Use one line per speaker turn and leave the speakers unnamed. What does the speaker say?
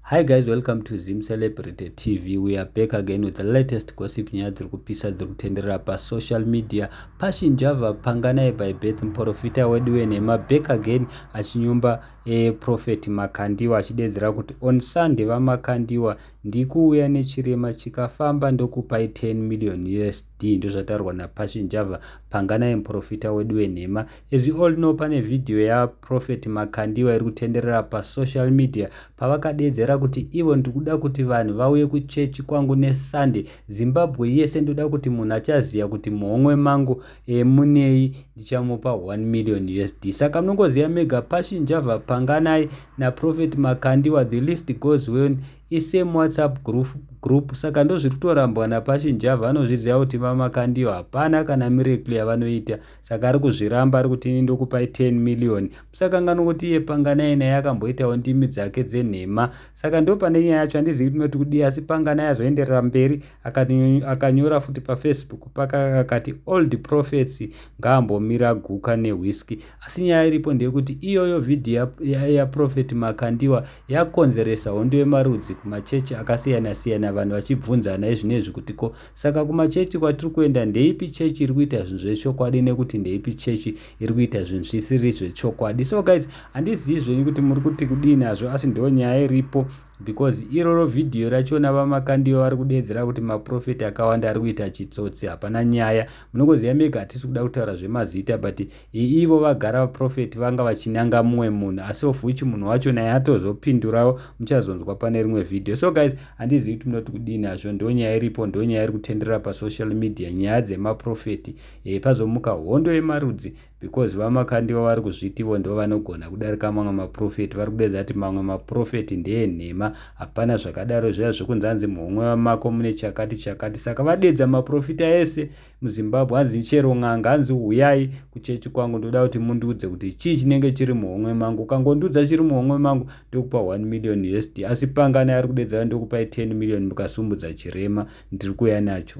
Hi guys, welcome to Zim Celebrity TV. We are back again with the latest gossip nyaya dziri kupisa dziri kutenderera pasocial media. Passion Java panganaye by birth muprofita wedu wenhema back again achinyumba e prophet Makandiwa achidedzera kuti on Sunday vaMakandiwa ndikuuya nechirema chikafamba ndokupai 10 million US D ndozvataurwa na Passion Java panganai muprofita wedu wenhema as we all know pane video ya Prophet Makandiwa iri kutenderera pa social media pavakadeedzera kuti ivo ndikuda kuti vanhu vauye ku church kwangu ne Sunday Zimbabwe yese ndoda kuti munhu achaziya kuti muhomwe mangu e, munei ndichamupa 1 million USD saka mnongoziya mega Passion Java panganai na Prophet Makandiwa the list goes when I same whatsapp group, group saka ndozviri kutorambwa naPassion Java anozviziva kuti mama Kandiyo hapana kana miracle yavanoita saka ari kuzviramba ari kuti ini ndokupai 10 million musakanganwa kuti iye Panganai naye akamboitawo ndimi dzake dzenhema saka ndopane nyaya yacho handizivi kuti noti kudii asi Panganai azoenderera mberi akanyora futi paFacebook paka akati old prophets ngaambomira guka newhiskey Asi nyaya iripo ndeyekuti iyoyo vhidhiyo yaProphet Makandiwa yakonzeresa hondo yemarudzi kumachechi akasiyana siyana vanhu vachibvunzana izvinezvi kuti ko saka kumachechi kwatiri kuenda ndeipi chechi iri kuita zvinhu zvechokwadi nekuti ndeipi chechi iri kuita zvinhu zvisiri zvechokwadi. So guys handizivi zvenyu kuti muri kuti kudii nazvo asi ndo nyaya iripo because iroro vhidhiyo rachona vamakandiwa vari kudeedzera kuti maprofeti akawanda ari kuita chitsotsi hapana nyaya munongoziva mega hatisi kuda kutaura zvemazita but Hi ivo vagara vaprofeti vanga vachinyanga mumwe munhu asi of which munhu wacho naye atozopindurawo muchazonzwa pane rimwe video so guys handizivi kuti munoti kudini hazvo ndonyaya iripo ndonyaya iri kutenderera pasocial media nyaya dzemaprofeti e, eh, pazomuka hondo yemarudzi because vamakandiwa vari kuzviti ivo ndivo vanogona kudarika mamwe maprofeti vari kudedza kuti mamwe maprofeti ndeenhema hapana zvakadaro zviya zvekunzi anzi muhomwe vamako mune chakati chakati saka vadedza maprofita ese muzimbabwe hanzi chero n'anga hanzi huyai kuchechi kwangu ndoda kuti mundiudze kuti chii chinenge chiri muhomwe mangu ukangondiudza chiri muhomwe mangu ndokupa 1 million usd asi pangani ari kudedzera ndokupai 10 million mukasumudza chirema ndiri kuya nacho